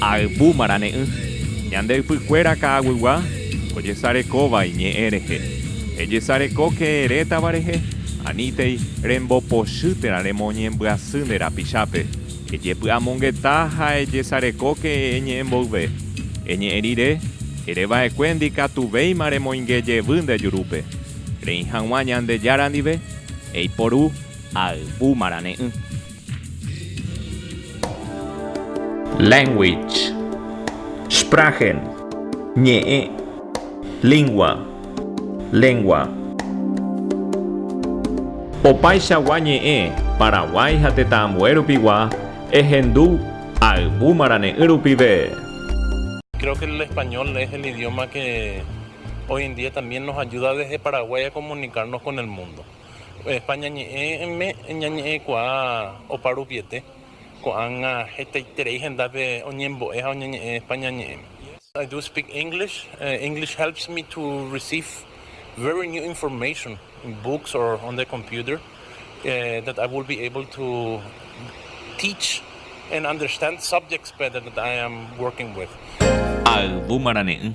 Ayvu marane'ỹ, ñande ypykuéra ka'aguygua ojesarekóva iñe'ẽ rehe. Ejesarekóke retãva rehe, anítei rembopochy térã remoñembyasy nde rapichápe. Ejepy'amongeta ha ejesarekóke eñe'ẽ mboyve. Eñe'ẽ rire, ere va'ekue ndikatuvéima remoinge jevy nde jurúpe. Reĩ hag̃ua Ñandejára ndive, eiporu ayvu marane'ỹ. Language, Sprachen, ñe'ẽ, lingua, lengua. Opaichagua ñe'ẽ Paraguái ha tetãambue rupigua ehendu ayvu marane'ỹ rupive. Creo que el español es el idioma que hoy en día también nos ayuda desde Paraguay a comunicarnos con el mundo. España ñe'ẽme ñañe'ẽkuaa opa rupiete, ko'ág̃a hetaiterei hendápe oñembo'e ha oñeñe'ẽ España ñe'ẽme. I do speak English, English helps me to receive very new information in books or on the computer that I will be able to teach and understand subjects better that I am working with. Ayvu marane'ỹ.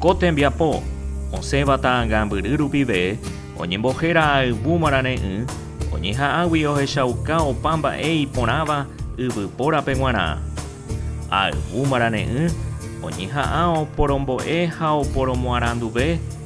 Ko tembiapo osẽva ta'ãngambyry rupive oñembohéra ayvu marare'ỹ, oñeha'ãgui ohechauka opa mba'e iporãva yvypórape g̃uarã. Ayvu marare'ỹ oñeha'ã oporombo'e ha oporomoaranduve,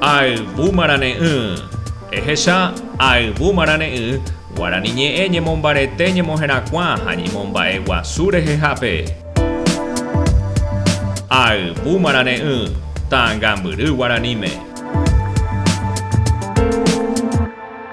Ayvumarane'ỹ, ehecha Ayvumarane'ỹ, Guarani ñe'ẽ ñemombarete ñemoherakuã ha ñemomba'e guasu rehehápe. Ayvumarane'ỹ, Ta'ãngambyry guaraníme.